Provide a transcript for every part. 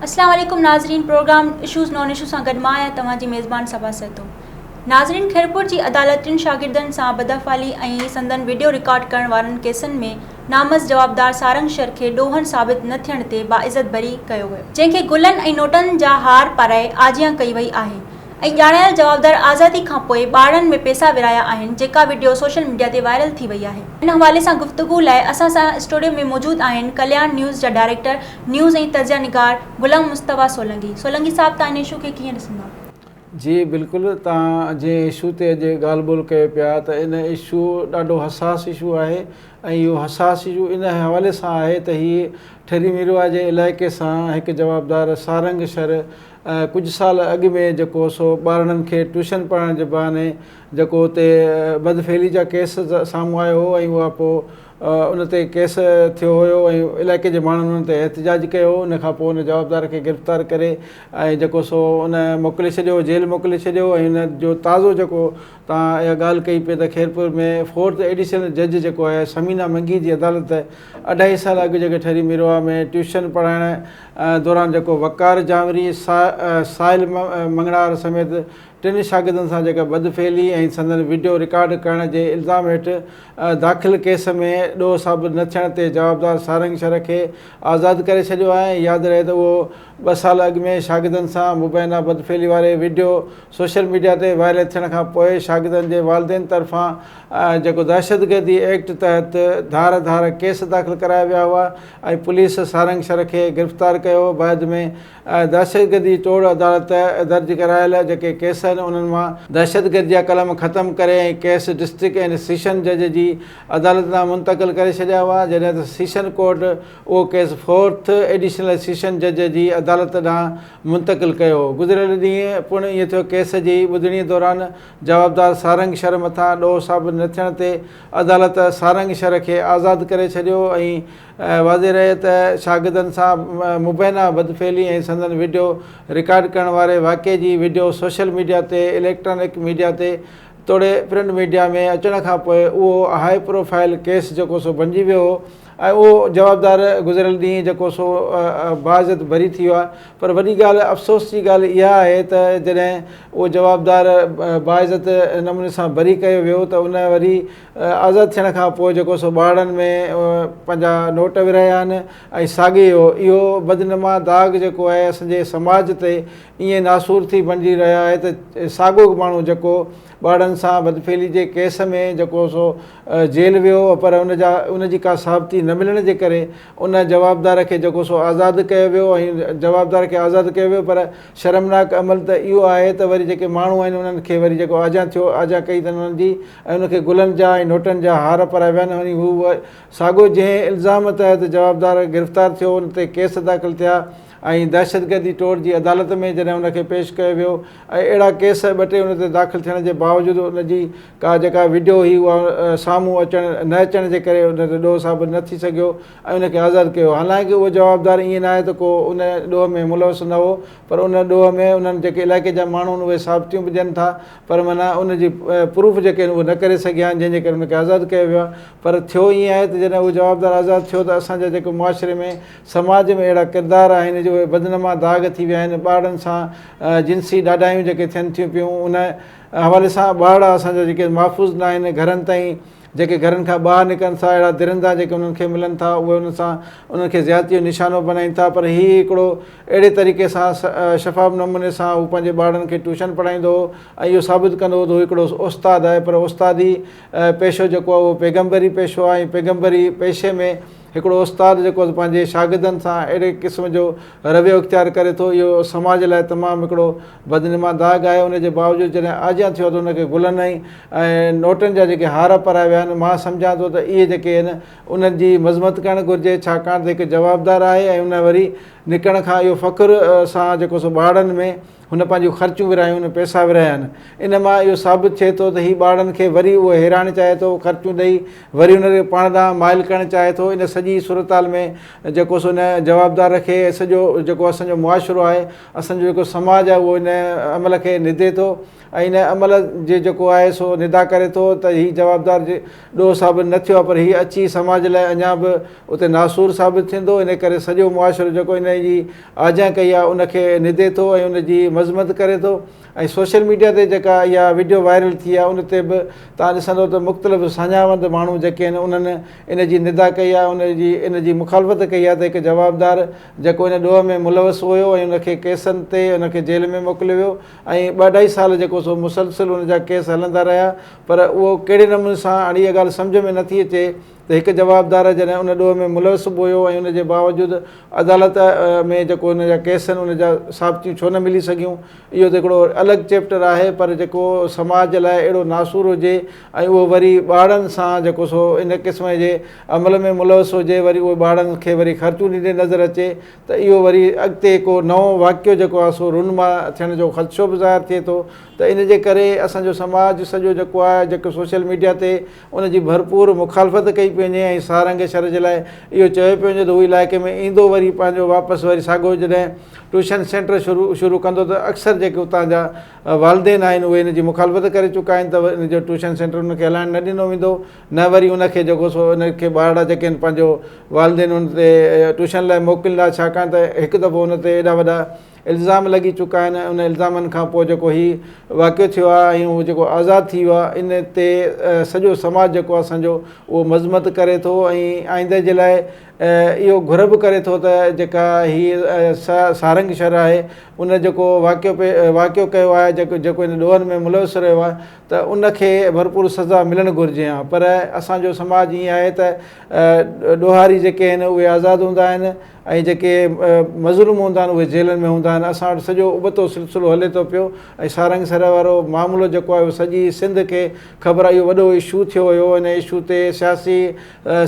اسلام عليڪم ناظرين پروگرام اشوز نان اشوز سان گڏ مان آهيان توهان جي ميزبان صبا سهتو ناظرين خيرپور جي عدالت ٽن شاگردن سان بداحوالي ۽ سندن وڊيو رڪارڊ ڪرڻ وارن ڪيسن ۾ نامس جوابدار سارنگ شر کي ڏوهن ثابت نه ٿيڻ تي باعزت بري ڪيو ويو جنهن کي گلن ۽ نوٽن جا هار پارائي آجيان ڪئي وئي آهي ۽ ڄاڻايل جوابدار آزادي کان پوء ٻارڙن ۾ پيسا ورهايا آهن جيڪا وڊيو سوشل ميڊيا تي وائرل ٿي وئي آهي. ان حوالي سان گفتگو لاء اسان سان اسٽوڊيو ۾ موجود آهن ڪلياڻ نيوز جا ڊائريڪٽر نيوز ۽ تجزيا نگار غلام مصطفيٰ سولنگي سولنگي صاحب تهان هن اشو کي ڪيئن ڏسندا. جي بلڪل تهان جنهن اشو تي اڄ ڳالهه ٻولهه ڪيو پيا ته ان اشو ڏاڍو حساس اشو آهي ۽ اهو حساس اشو ان حوالي سان آهي ته هي ٺري ميرواهه جي علائقي سان هڪ جوابدار سارنگ شھر ڪجهه سال اڳ ۾ جيڪو سو ٻارڙن کي ٽيوشن پڙهائڻ جي بهاني جيڪو اتي بدفعلي جا ڪيس سامهون آيو هو ۽ اها پوء ان تي ڪيس ٿيو هيو ۽ علائقي جي ماڻهن ان تي احتجاج ڪيو هو ان کان پوء ان جوابدار کي گرفتار ڪري ۽ جيڪو سو ان موڪلي ڇڏيو جيل موڪلي ڇڏيو ۽ ان جو تازو جيڪو تان اها ڳالهه ڪئي پئي ته خيرپور ۾ فورٿ ايڊيشنل جج جيڪو آهي ثمينه منگي جي عدالت اڍائي سال اڳ جيڪي ٺري ميرواهه ۾ ٽيوشن پڙهائڻ دوران جيڪو وقار جانوري سائل مڱڻهار سميت ٽن شاگردن سان جيڪا بدفعلي ۽ سندن وڊيو رڪارڊ ڪرڻ جي الزام هيٺ داخل ڪيس ۾ ڏوهه ثابت نه ٿيڻ تي جوابدار سارنگ شر کي آزاد ڪري ڇڏيو آهي ياد رهي ته اهو ٻه سال اڳ ۾ شاگردن سان مبينا بدفعلي واري وڊيو سوشل ميڊيا تي وائرل ٿيڻ کان پوء شاگردن جي والدين طرفان جيڪو دهشتگردي ايڪٽ تحت ڌار ڌار ڪيس داخل ڪرايا ويا هئا ۽ پوليس سارنگ شر کي گرفتار ڪيو هو بعد ۾ دهشتگردي ٽوڙ عدالت درج ڪرايل جيڪي ڪيس آهن انهن مان دهشتگردي جا قلم ختم ڪري ۽ ڪيس ڊسٽرڪٽ اينڊ سيشن جج جي عدالت ڏانهن منتقل ڪري ڇڏيا هئا جڏهن ته سيشن ڪورٽ اهو ڪيس فورٿ ايڊيشنل سيشن جج جي عدالت ڏانهن منتقل ڪيو هو گذريل ڏينهن پڻ ائين ٿيو ڪيس جي ٻڌڻي دوران جوابدار سارنگ شر مٿان ڏوهه ثابت نه ٿيڻ تي عدالت سارنگ شر کي آزاد ڪري ڇڏيو ۽ واضح رهي ته شاگردن سان مبينا بدفعلي ۽ سندن وڊيو رڪارڊ ڪرڻ واري واقعي جي وڊيو سوشل ميڊيا تي اليڪٽرانڪ ميڊيا تي توڙي پرنٽ ميڊيا ۾ اچڻ کان پوء اهو هاء پروفائل ڪيس جيڪو سو بنجي ويو هو ۽ اهو جوابدار گذريل ڏينهن جيڪو سو باعزت بري ٿي ويو آهي پر وڏي ڳالهه افسوس جي ڳالهه اها آهي ته جڏهن اهو جوابدار باعزت نموني سان بري ڪيو ويو ته ان وري آزاد ٿيڻ کان پوء جيڪو سو ٻارڙن ۾ پنهنجا نوٽ ورهايا آهن ۽ ساڳي اهو اهو بدنما داغ جيڪو آهي اسان جي سماج تي ائين ناسور ٿي بڻجي رهيو آهي ته ساڳيو ماڻهو جيڪو ٻارڙن سان بدفعلي جي ڪيس ۾ جيڪو سو جيل ويو هو پر ان جا ان جي ڪا ثابتي نه ملڻ جي ڪري ان جوابدار کي جيڪو سو آزاد ڪيو ويو ۽ جوابدار کي آزاد ڪيو ويو پر شرمناڪ عمل ته اهو آهي ته وري جيڪي ماڻهو آهن انهن کي وري جيڪو آجيان ٿيو آجيان ڪئي اٿن انهن جي ۽ ان کي گلن جا ۽ نوٽن جا هار پرائي ويا نه وڃي هو اهو ساڳيو جنهن الزام تحت جوابدار گرفتار ٿيو ان تي ڪيس داخل ٿيا ۽ دهشتگردي ٽوڙ جي عدالت ۾ جڏهن ان کي پيش ڪيو ويو ۽ اهڙا ڪيس ٻه ٽي ان تي داخل ٿيڻ جي باوجود ان جي ڪا جيڪا وڊيو هئي اها سامهون اچڻ نه اچڻ جي ڪري ان تي ڏوهه ثابت نه ٿي سگهيو ۽ ان کي آزاد ڪيو. حالانڪ اهو جوابدار ائين ناهي ته ڪو ان ڏوهه ۾ ملوث نه هو پر ان ڏوهه ۾ انهن جيڪي علائقي جا ماڻهو آهن اهي ثابتيون به ڏين ٿا پر معنيٰ ان جي پروف جيڪي آهن اهي نه ڪري سگهيا آهن جنهن جي ڪري ان کي آزاد ڪيو ويو آهي پر ٿيو ائين آهي ته جڏهن اهو جوابدار آزاد ٿيو ته اسان جا جيڪي معاشري ۾ سماج ۾ اهڙا ڪردار آهن جو اهي بدنما داغ ٿي ويا آهن ٻارڙن سان جنسي ڏاڍايون جيڪي ٿين ٿيون پيون ان حوالي سان ٻارڙا اسان جا جيڪي محفوظ ناهن گهرن تائين جيڪي گهرن کان ٻاهر نڪرن ٿا اهڙا درندا جيڪي انهن کي ملن ٿا اهي انهن سان انهن کي زيادتي جو نشانو بنائين ٿا پر هي هڪڙو اهڙي طريقي سان شفاف نموني سان هو پنهنجي ٻارڙن کي ٽيوشن پڙهائيندو هو ۽ اهو ثابت ڪندو هو ته هو هڪڙو استاد آهي پر استادي پيشو جيڪو آهي اهو پيغمبري پيشو آهي ۽ پيغمبري پيشي ۾ هڪڙو استاد جيڪو پنهنجي شاگردن سان اهڙي قسم جو رويو اختيار ڪري ٿو، اهو سماج لاء تمام هڪڙو بدنما داغ آهي. ان جي باوجود جڏهن آجيان ٿيو ته ان کي گلن ۽ نوٽن جا جيڪي هار پرايا ويا آهن، مان سمجهان ٿو ته اهي جيڪي آهن انهن جي مذمت ڪرڻ گهرجي، ڇاڪاڻ ته هڪ جوابدار آهي ۽ ان وري نڪرڻ کان اهو فخر سان جيڪو سو ٻاڙن ۾. هن پنهنجون خرچون ورهايون، پئسا ورهايا آهن. ان مان اهو ثابت ٿئي ٿو ته هي ٻارڙن کي وري اهو هيرائڻ چاهي ٿو، خرچون ڏئي وري انهن کي پاڻ ڏانهن مائل ڪرڻ چاهي ٿو. ان سڄي صورتحال ۾ جيڪو سو ان جوابدار رکي ۽ سڄو جيڪو اسان جو معاشرو آهي، اسان جو جيڪو سماج آهي اهو ان عمل کي ندي ٿو ۽ ان عمل جي جيڪو آهي سو ندا ڪري ٿو ته هي جوابدار جي ڏوهه ثابت نه ٿيو آهي پر هي اچي سماج لاء اڃا به اتي ناسور ثابت ٿيندو. ان ڪري سڄو معاشرو جيڪو انهيء جي آجيان ڪئي آهي ان کي ندي ٿو ۽ ان جي مذمت ڪري ٿو ۽ سوشل ميڊيا تي جيڪا اها وڊيو وائرل ٿي آهي ان تي به تان ڏسندو ته مختلف ساڃاهوند ماڻهو جيڪي آهن انهن ان جي ندا ڪئي آهي ان جي ان جي مخالفت ڪئي آهي ته هڪ جوابدار جيڪو ان ڏوهه ۾ ملوث هيو ۽ ان کي ڪيسن تي ان کي جيل ۾ موڪليو ويو ۽ ٻه اڍائي سال جيڪو سو مسلسل ان جا ڪيس هلندا رهيا پر اهو ڪهڙي نموني سان هاڻي اها ڳالهه سمجهه ۾ نٿي اچي ته هڪ جوابدار جڏهن ان ڏوهه ۾ ملوث به هيو ۽ ان جي باوجود عدالت ۾ جيڪو ان جا ڪيس آهن ان جا ثابتيون ڇو نه ملي سگهيون اهو ته هڪڙو الڳ چيپٽر آهي پر جيڪو سماج جي لاء اهڙو ناسور هجي ۽ اهو وري ٻاڙن سان جيڪو سو ان قسم جي عمل ۾ ملوث هجي وري اهو ٻاڙن کي وري خرچون ڏيندي نظر اچي ته اهو وري اڳتي ڪو نئون واقعو جيڪو آهي سو رونما ٿيڻ جو خدشو به ظاهر ٿئي ٿو ته ان جي ڪري اسان جو سماج سڄو جيڪو آهي جيڪو سوشل ميڊيا تي ان جي ڀرپور مخالفت ڪئي پيو وڃي ۽ سارنگ شھر جي لاء اھو چيو پيو وڃي ته ھو علائقي ۾ ايندو وري پنھنجو واپس وري ساڳيو جڏھن ٽيوشن سينٽر شروع شروع ڪندو ته اڪثر جيڪي اتان جا والدين آھن اھي ان جي مخالفت ڪري چڪا آھن ته ان جو ٽيوشن سينٽر ان کي ھلائڻ نه ڏنو ويندو نه وري ان کي جيڪو سو ان کي ٻارڙا جيڪي آھن پنھنجو والدين ان تي ٽيوشن لاء موڪليندا ڇاڪاڻ ته ھڪ دفعو ان تي ايڏا وڏا الزام لڳي چڪا آهن ۽ انهن الزامن کان پوء جيڪو هي واقعو ٿيو آهي ۽ هو جيڪو آزاد ٿي ويو آهي ان تي سڄو سماج جيڪو آهي اسان جو اهو مذمت ڪري ٿو ۽ آئنده جي لاء اهو گهر به ڪري ٿو ته جيڪا هي سارنگ شھر آهي ان جيڪو واقعو پي واقعو ڪيو آهي جيڪو جيڪو ان ڏوهن ۾ ملوث رهيو آهي ته ان کي ڀرپور سزا ملڻ گهرجي ها پر اسان جو سماج ائين آهي ته ڏوهاري جيڪي آهن اهي آزاد هوندا آهن ۽ جيڪي مظلوم هوندا آهن اهي جيلن ۾ هوندا آهن اسان وٽ سڄو ابتو سلسلو هلي ٿو پيو ۽ سارنگ سر وارو معاملو جيڪو آهي اهو سڄي سنڌ کي خبر آهي اهو وڏو اشو ٿيو هيو ان اشو تي سياسي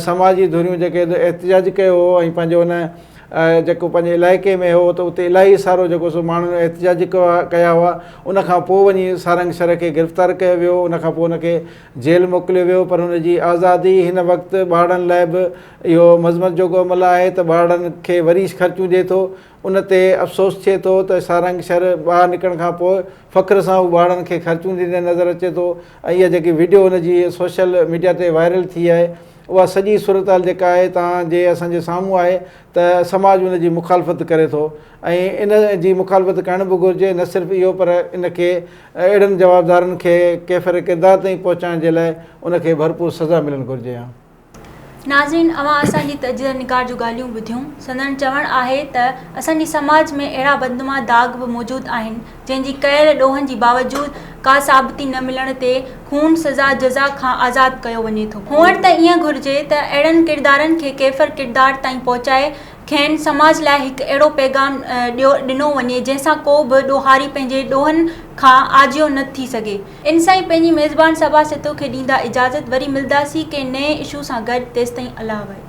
سماجي ڌريون جيڪي احتجاج ڪيو هو ۽ پنهنجو ان جيڪو پنهنجي علائقي ۾ هو ته اتي الاهي سارو جيڪو سو ماڻهن احتجاج ڪيا هئا ان کان پوء وڃي سارنگ سر کي گرفتار ڪيو ويو ان کان پوء ان کي جيل موڪليو ويو پر ان جي آزادي هن وقت ٻارڙن لاء به اهو مذمت جوڳو عمل آهي ته ٻارڙن کي وريش خرچون ڏئي ٿو، ان تي افسوس ٿئي ٿو ته سارنگ شھر ٻاھر نڪرڻ کان پوء فخر سان هو ٻارڙن کي خرچون ڏيندي نظر اچي ٿو ۽ اها جيڪي وڊيو هن جي سوشل ميڊيا تي وائرل ٿي آهي اها سڄي صورتحال جيڪا آهي تان جي اسان جي سامهون آهي ته سماج ان جي مخالفت ڪري ٿو ۽ ان جي مخالفت ڪرڻ به گهرجي نه صرف اهو پر ان کي اهڙن جوابدارن کي ڪيفر ڪردار تائين پهچائڻ جي لاء ان کي ڀرپور سزا ملڻ گهرجي ها. ناظرين اوهان اسان جي تجزئه نگار جون ڳالهيون ٻڌيون سندن چوڻ آهي ته اسان جي سماج ۾ اهڙا بدنما داغ به موجود آهن جنهن جي ڪيل ڏوهن جي باوجود ڪا ثابتي نه ملڻ تي خون سزا جزا کان آزاد ڪيو وڃي ٿو هئڻ ته ائين گهرجي ته اهڙن ڪردارن کي ڪيفر ڪردار تائين پهچائي کين سماج لاء هڪ اهڙو پيغام ڏنو وڃي جنهن سان ڪو به ڏوهاري پنهنجي ڏوهن کان آجيو نه ٿي سگهي ان سان ئي پنهنجي ميزبان صبا سھتو کي ڏيندا اجازت وري ملداسين ڪنهن نئين اشو سان گڏ تيستائين الله وحيد.